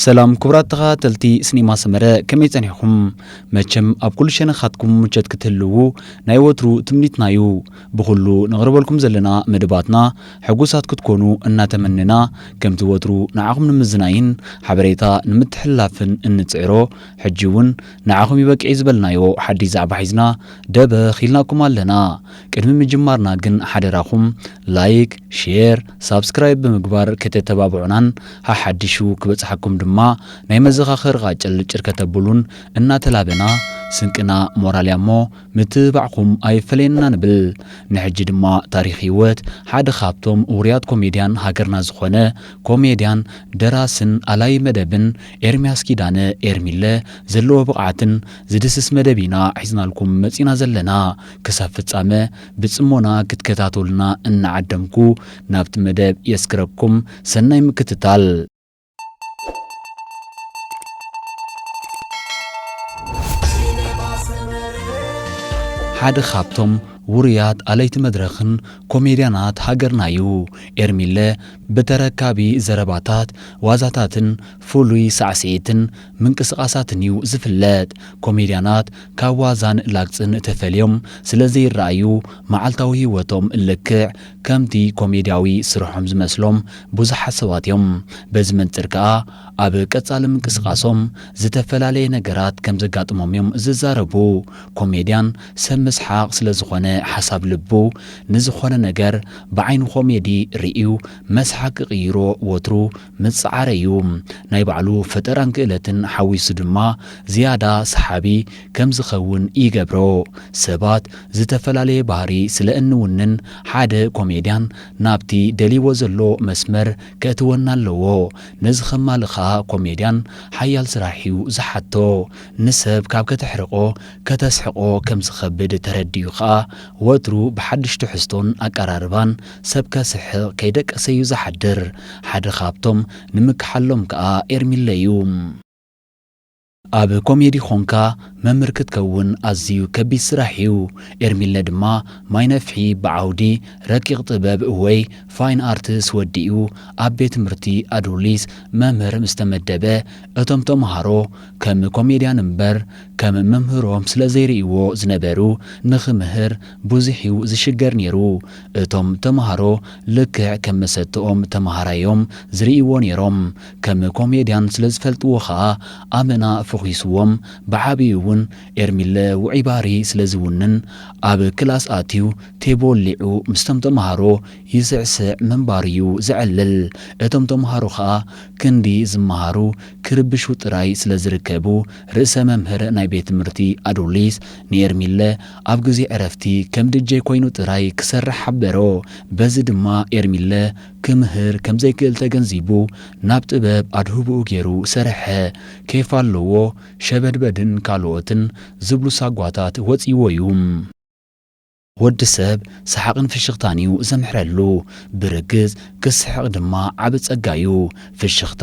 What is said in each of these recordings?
ሰላም ክቡራት ተኸታተልቲ ስኔማ ሰመረ ከመይ ጸኒሕኹም? መቸም ኣብ ኩሉ ሸነኻትኩም ምቾት ክትህልዉ ናይ ወትሩ ትምኒትና ዩ። ብኹሉ ነቕርበልኩም ዘለና መደባትና ሕጉሳት ክትኮኑ እናተመነና ከምቲ ወትሩ ንዓኹም ንምዝናይን ሓበሬታ ንምትሕልላፍን እንጽዕሮ ሕጂ ውን ንዓኹም ይበቅዕ'ዩ ዝበልናዮ ሓድሽ ዛዕባ ሒዝና ደበኽ ኢልናኩም ኣለና። ቅድሚ ምጅማርና ግን ሓደራኹም ላይክ ሼር ሳብስክራይብ ብምግባር ከተተባብዑናን ሓሓዲሹ ክበጽሓኩም ድማ ናይ መዘኻኸሪ ቓጭል ጭር ከተቡሉን እናተላበና ስንቅና ሞራል ያሞ ምትብባዕኹም ኣይፈለየና ንብል ንሕጂ ድማ ታሪኽ ሂወት ሓደ ካብቶም ውሩያት ኮሜድያን ሃገርና ዝኾነ ኮሜድያን ደራስን ኣላዪ መደብን ኤርምያስ ኪዳነ ኤርሚለ ዘለዎ ብቕዓትን ዝድስስ መደብ ኢና ሒዝናልኩም መጺና ዘለና ክሳብ ፍጻመ ብጽሞና ክትከታተሉና እናዓደምኩ ናብቲ መደብ የስግረኩም። ሰናይ ምክትታል። ሓደ ካብቶም ውሩያት ኣለይቲ መድረኽን ኮሜድያናት ሃገርና እዩ። ኤርሚለ ብተረካቢ ዘረባታት፣ ዋዛታትን ፍሉይ ሳዕስዒትን ምንቅስቓሳትን እዩ ዝፍለጥ። ኮሜድያናት ካብ ዋዛን ላግጽን ተፈልዮም ስለ ዘይረኣዩ፣ መዓልታዊ ህይወቶም ልክዕ ከምቲ ኮሜድያዊ ስርሖም ዝመስሎም ብዙሓት ሰባት እዮም። በዚ መንጽር ከኣ ኣብ ቀጻሊ ምንቅስቓሶም ዝተፈላለየ ነገራት ከም ዘጋጥሞም እዮም ዝዛረቡ። ኮሜድያን ሰብ ምስሓቕ ስለ ዝኾነ ሓሳብ ልቡ ንዝኾነ ነገር ብዓይኒ ኮሜዲ ርእዩ መስሓቕ ክቕይሮ ወትሩ ምጽዓር እዩ። ናይ ባዕሉ ፈጠራን ክእለትን ሓዊሱ ድማ ዝያዳ ሰሓቢ ከም ዝኸውን ይገብሮ። ሰባት ዝተፈላለየ ባህሪ ስለ እንውንን ሓደ ኮሜድያን ናብቲ ደልይዎ ዘሎ መስመር ከእትወና ኣለዎ። ነዚ ከማልእ ከኣ ኮሜድያን ሓያል ስራሕ እዩ ዝሓቶ። ንሰብ ካብ ከተሕርቆ ከተስሕቆ ከም ዝኸብድ ተረዲኡ ከኣ ወትሩ ብሓድሽ ትሕዝቶን ኣቀራርባን ሰብ ከስሕቕ ከይደቀሰ'ዩ ዝሓድር። ሓደ ካብቶም ንምክሓሎም ከኣ ኤርሚለ'ዩ። ኣብ ኮሜዲ ኾንካ መምህር ክትከውን ኣዝዩ ከቢድ ስራሕ'ዩ። ኤርሚለ ድማ ማይ ነፍሒ ብዓውዲ ረቂቕ ጥበብ ወይ ፋይን ኣርትስ ወዲኡ ኣብ ቤት ትምህርቲ ኣዱሊስ መምህር ምስ ተመደበ እቶም ተምሃሮ ከም ኮሜድያን እምበር ከም መምህሮም ስለ ዘይርእይዎ ዝነበሩ ንኽምህር ብዙሕ እዩ ዝሽገር ኔሩ እቶም ተማሃሮ ልክዕ ከም መሰተኦም ተማሃራይ እዮም ዝርእይዎ ኔሮም ከም ኮሜድያን ስለ ዝፈልጥዎ ከኣ ኣመና ፈኺስዎም ብዓቢኡ እውን ኤርሚለ ውዑይ ባህሪ ስለ ዝውንን ኣብ ክላስ ኣትዩ ቴብ ወሊዑ ምስቶም ተማሃሮ ይስዕስዕ ምንባሩ እዩ ዘዕልል እቶም ተማሃሮ ከኣ ክንዲ ዝመሃሩ ክርብሹ ጥራይ ስለ ዝርከቡ ርእሰ መምህር ናይ ቤት ትምህርቲ ኣዱሊስ ንኤርሚለ ኣብ ግዜ ዕረፍቲ ከም ድጄ ኮይኑ ጥራይ ክሰርሕ ሓበሮ። በዚ ድማ ኤርሚለ ክምህር ከም ዘይክእል ተገንዚቡ ናብ ጥበብ ኣድህቦኡ ጌሩ ሰርሐ። ኬፍ ኣለዎ፣ ሸበድበድን ካልኦትን ዝብሉ ሳጓታት ወጺዎ'ዩ። ወዲ ሰብ ሰሓቕን ፍሽኽታን'ዩ ዘምሕረሉ፣ ብርግጽ ክስሕቕ ድማ ዓቢ ጸጋ'ዩ። ፍሽኽታ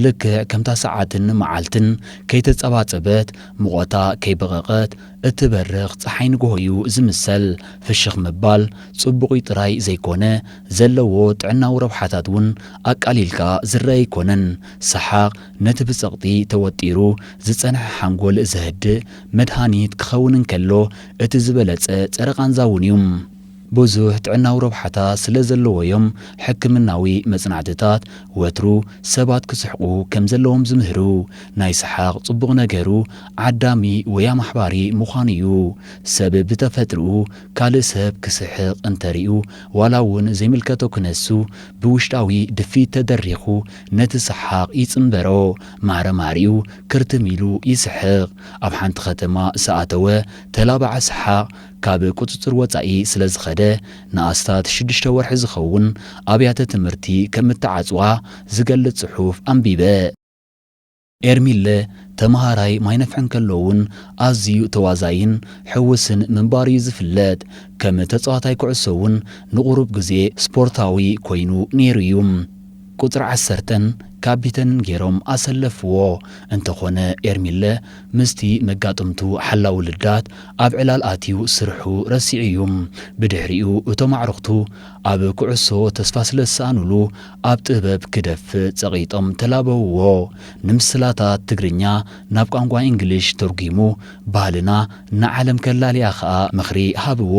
ልክዕ ከምታ ሰዓትን መዓልትን ከይተጸባጸበት፣ ሙቐታ ከይበቐቐት፣ እትበርቕ ጸሓይ ንግሆ'ዩ ዝምሰል። ፍሽኽ ምባል ጽቡቕ'ዩ ጥራይ ዘይኮነ፣ ዘለዎ ጥዕናዊ ረብሓታት እውን ኣቃሊልካ ዝረኣ ኣይኮነን። ሰሓቕ ነቲ ብጸቕጢ ተወጢሩ ዝጸንሐ ሓንጎል ዘህድእ መድሃኒት ክኸውን እንከሎ፣ እቲ ዝበለጸ ጸረ-ቃንዛ'ውን'ዩ። ብዙሕ ጥዕናዊ ረብሓታት ስለ ዘለዎ'ዮም ሕክምናዊ መጽናዕትታት ወትሩ ሰባት ክስሕቑ ከም ዘለዎም ዝምህሩ። ናይ ሰሓቕ ጽቡቕ ነገሩ ዓዳሚ ወይ ኣማሕባሪ ምዃኑ'ዩ። ሰብ ብተፈጥርኡ ካልእ ሰብ ክስሕቕ እንተ ርእዩ ዋላ'ውን ዘይምልከቶ ክነሱ ብውሽጣዊ ድፍኢት ተደሪኹ ነቲ ሰሓቕ ይጽንበሮ። ማዕረ ማዕሪኡ ክርትም ኢሉ ይስሕቕ። ኣብ ሓንቲ ከተማ ዝኣተወ ተላባዒ ሰሓቕ፣ ካብ ቁጽጽር ወጻኢ ስለ ዝኸደ ንኣስታት ሽዱሽተ ወርሒ ዝኸውን ኣብያተ ትምህርቲ ከም እተዓጽዋ ዝገልጽ ጽሑፍ ኣንቢበ። ኤርሚለ ተመሃራይ ማይ ነፍሒ እንከሎ'ውን ኣዝዩ ተዋዛይን ሕውስን ምንባሩ'ዩ ዝፍለጥ። ከም ተጻዋታይ ኩዕሶ'ውን ንቑሩብ ግዜ ስፖርታዊ ኮይኑ ነይሩ'ዩ። ቁጽሪ ዓሰርተን ካቢተንን ጌሮም ኣሰለፍዎ። እንተኾነ ኤርሚለ ምስቲ መጋጥምቱ ሓላዊ ልዳት ኣብ ዕላል ኣትዩ ስርሑ ረሲዑ እዩ። ብድሕሪኡ እቶም ኣዕሩኽቱ ኣብ ኩዕሶ ተስፋ ስለዝሰኣኑሉ ኣብ ጥበብ ክደፍእ ጸቒጦም ተላበውዎ። ንምስላታት ትግርኛ ናብ ቋንቋ ኢንግሊሽ ተርጒሙ ባህልና ንዓለም ከላልያ ከኣ ምኽሪ ሃብዎ።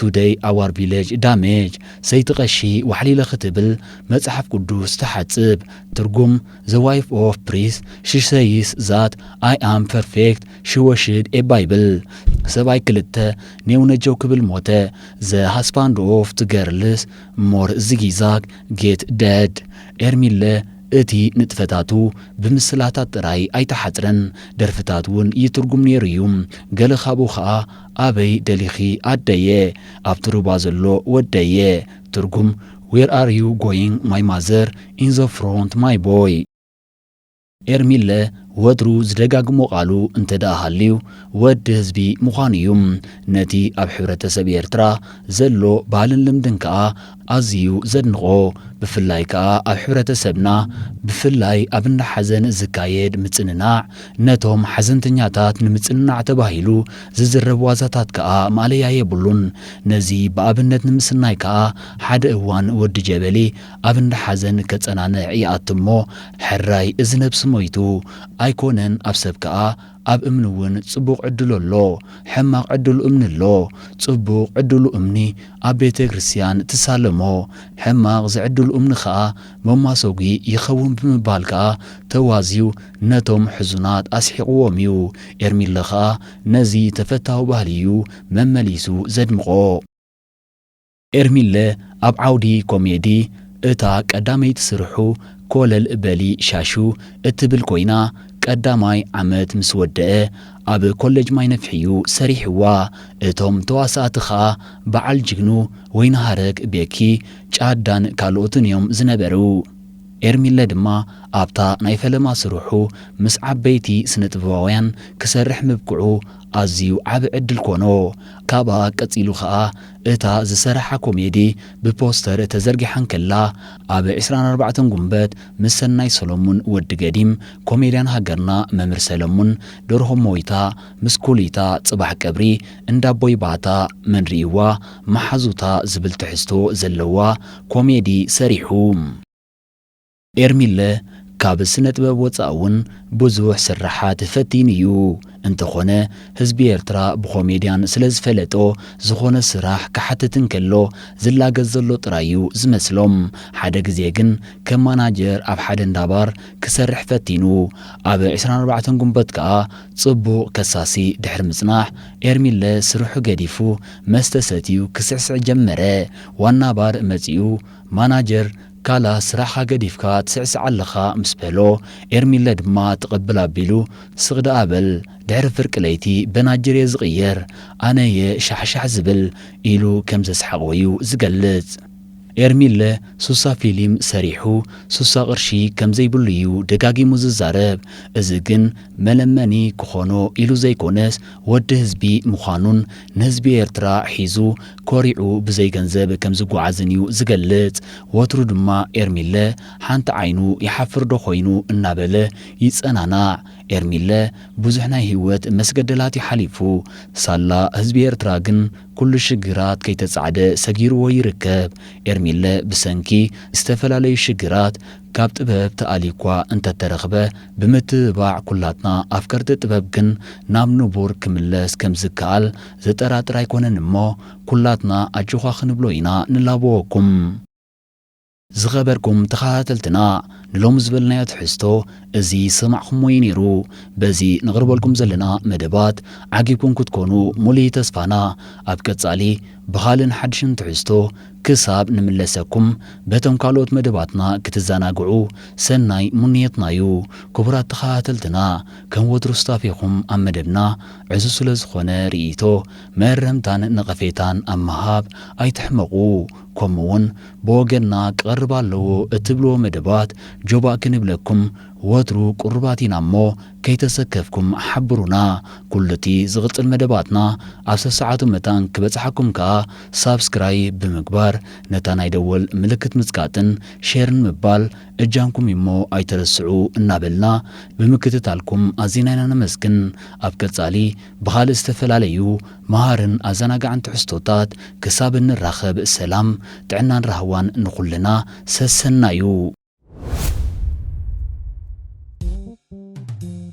ቱደይ ኣዋር ቪለጅ ዳሜጅ ሰይቲ ቀሺ ዋሕሊለ ክትብል መጽሓፍ ቅዱስ ትሓጽብ ትርጉም ዘ ዋይፍ ኦፍ ፕሪስ ሺ ሰይስ ዛት ኣይ ኣም ፐርፌክት ሺ ወሽድ ኤ ባይብል ሰብኣይ ክልተ ኔው ነጀው ክብል ሞተ ዘ ሃስባንድ ኦፍ ት ገርልስ ሞር ዚጊዛግ ጌት ደድ ኤርሚለ እቲ ንጥፈታቱ ብምስላታት ጥራይ ኣይተሓጽረን ደርፍታት ውን ይትርጉም ኔሩ ዩ ገለ ካብኡ ከኣ ኣበይ ደሊኺ ኣደየ ኣብቲ ሩባ ዘሎ ወደየ ትርጉም Where are you going my mother in the front my boy። ኤርሚለ ወትሩ ዝደጋግሞ ቃሉ እንተድኣ ሃልዩ ወዲ ህዝቢ ምዃኑ እዩ። ነቲ ኣብ ሕብረተሰብ ኤርትራ ዘሎ ባህልን ልምድን ከኣ ኣዝዩ ዘድንቖ ብፍላይ ከኣ ኣብ ሕብረተሰብና ብፍላይ ኣብ እንዳ ሓዘን ዝካየድ ምጽንናዕ ነቶም ሓዘንተኛታት ንምጽንናዕ ተባሂሉ ዝዝረብ ዋዛታት ከኣ ማእለያ የብሉን ነዚ ብኣብነት ንምስናይ ከኣ ሓደ እዋን ወዲ ጀበሊ ኣብ እንዳ ሓዘን ከጸናንዕ ይኣቱ እሞ ሕራይ እዚ ነብሲ ሞይቱ ኣይኮነን ኣብ ሰብ ከኣ ኣብ እምኒ እውን ጽቡቕ ዕድሉ ኣሎ፣ ሕማቕ ዕድሉ እምኒ ኣሎ። ጽቡቕ ዕድሉ እምኒ ኣብ ቤተ ክርስቲያን ትሳለሞ፣ ሕማቕ ዝዕድሉ እምኒ ከኣ መማሶጒ ይኸውን ብምባል ከኣ ተዋዝዩ ነቶም ሕዙናት ኣስሒቕዎም እዩ። ኤርሚለ ከኣ ነዚ ተፈታዊ ባህሊ እዩ መመሊሱ ዘድምቖ። ኤርሚለ ኣብ ዓውዲ ኮሜዲ እታ ቀዳመይቲ ስርሑ ኮለል በሊ ሻሹ እትብል ኮይና ቀዳማይ ዓመት ምስ ወደኣ ኣብ ኮለጅ ማይነፍሒ'ዩ ሰሪሕዋ። እቶም ተዋሳእቲ ከኣ በዓል ጅግኑ፣ ወይንሃረግ፣ ቤኪ፣ ጫዳን ካልኦትን'ዮም ዝነበሩ። ኤርሚለ ድማ ኣብታ ናይ ፈለማ ስርሑ ምስ ዓበይቲ ስነጥበባውያን ክሰርሕ ምብቅዑ ኣዝዩ ዓቢ ዕድል ኮኖ። ካብኣ ቀጺሉ ከኣ እታ ዝሰረሓ ኮሜዲ ብፖስተር ተዘርጊሓ እንከላ ኣብ ዕስራን ኣርባዕተን ጉንበት ምስ ሰናይ ሰሎሙን፣ ወዲ ገዲም፣ ኮሜድያን ሃገርና መምር ሰለሙን፣ ደርሆ ሞይታ፣ ምስ ኩሊታ፣ ጽባሕ ቀብሪ እንዳቦይ ባታ፣ መን ሪኢዋ ማሓዙታ ዝብል ትሕዝቶ ዘለዋ ኮሜዲ ሰሪሑ። ኤርሚለ ካብ ስነጥበብ ወጻኢ ውን ብዙሕ ስርሓት ፈቲኑ ዩ እንተኾነ ህዝቢ ኤርትራ ብኮሜድያን ስለዝፈለጦ ዝኾነ ስራሕ ክሓትት እንከሎ ዝላገጽ ዘሎ ጥራይ ዩ ዝመስሎም ሓደ ግዜ ግን ከም ማናጀር ኣብ ሓደ እንዳ ባር ክሰርሕ ፈቲኑ ኣብ ዕስራን ኣርባዕተን ጉንበት ከኣ ጽቡቕ ከሳሲ ድሕሪ ምጽናሕ ኤርሚለ ስርሑ ገዲፉ መስተ ሰትዩ ክስዕስዕ ጀመረ ዋና ባር መጺኡ ማናጀር ካላ ስራሕኻ ገዲፍካ ትስዕስዕ ኣለኻ ምስ በሎ፣ ኤርሚለ ድማ ትቕብል ኣቢሉ ስቕ ደኣ በል ድሕሪ ፍርቂ ለይቲ በናጅር'የ ዝቕየር፣ ኣነ'የ ሻሕሻሕ ዝብል ኢሉ ከም ዘስሓቕዎ'ዩ ዝገልጽ። ኤርሚለ ሱሳ ፊሊም ሰሪሑ ሱሳ ቅርሺ ከም ዘይብሉ'ዩ ደጋጊሙ ዝዛረብ። እዚ ግን መለመኒ ክኾኖ ኢሉ ዘይኮነስ ወዲ ህዝቢ ምዃኑን ንህዝቢ ኤርትራ ሒዙ ኮሪዑ ብዘይ ገንዘብ ከም ዝጓዓዝን እዩ ዝገልጽ። ወትሩ ድማ ኤርሚለ ሓንቲ ዓይኑ ይሓፍር ዶ ኮይኑ እናበለ ይጸናናዕ። ኤርሚለ ብዙሕ ናይ ሂወት መስገደላት እዩ ሓሊፉ። ሳላ ህዝቢ ኤርትራ ግን ኩሉ ሽግራት ከይተጻዕደ ሰጊርዎ ይርከብ። ኤርሚለ ብሰንኪ ዝተፈላለዩ ሽግራት ካብ ጥበብ ተኣልዩኳ እንተተረኽበ ብምትብባዕ ኩላትና ኣፍቀርቲ ጥበብ ግን ናብ ንቡር ክምለስ ከም ዝከኣል ዘጠራጥር ኣይኮነን እሞ ኩላትና ኣጆዃ ክንብሎ ኢና ንላበወኩም። ዝኸበርኩም ተኻታተልትና ንሎሚ ዝበልናዮ ትሕዝቶ እዚ ዝሰማዕኹሞ እዩ ነይሩ። በዚ ነቕርበልኩም ዘለና መደባት ዓጊብኩም ክትኮኑ ሙሉይ ተስፋና። ኣብ ቀጻሊ ብኻልእን ሓድሽን ትሕዝቶ ክሳብ ንምለሰኩም በቶም ካልኦት መደባትና ክትዘናግዑ ሰናይ ሙንየትና እዩ። ክቡራት ተኻታተልትና ከም ወትሩ ሱታፌኹም ኣብ መደብና ዕዙዝ ስለ ዝኾነ ርእይቶ፣ መእረምታን ነቐፌታን ኣብ ምሃብ ኣይትሕመቑ። ከምኡ'ውን ብወገንና ክቐርብ ኣለዎ እትብልዎ መደባት ጆባእ ክንብለኩም ወትሩ ቅሩባት ኢና እሞ ከይተሰከፍኩም ሓብሩና። ኩሉ'ቲ ዝቕጽል መደባትና ኣብ ሰሰዓቱ መታን ክበጽሓኩም ከኣ ሳብስክራይ ብምግባር ነታ ናይ ደወል ምልክት ምጽቃጥን ሼርን ምባል እጃምኩም እዩሞ ኣይትረስዑ እናበልና ብምክትታልኩም ኣዚና ኢና ነመስግን። ኣብ ቀጻሊ ብኻልእ ዝተፈላለዩ መሃርን ኣዘናጋዕን ትሕዝቶታት ክሳብ እንራኸብ ሰላም፣ ጥዕናን ራህዋን ንኹልና። ሰሰናዩ!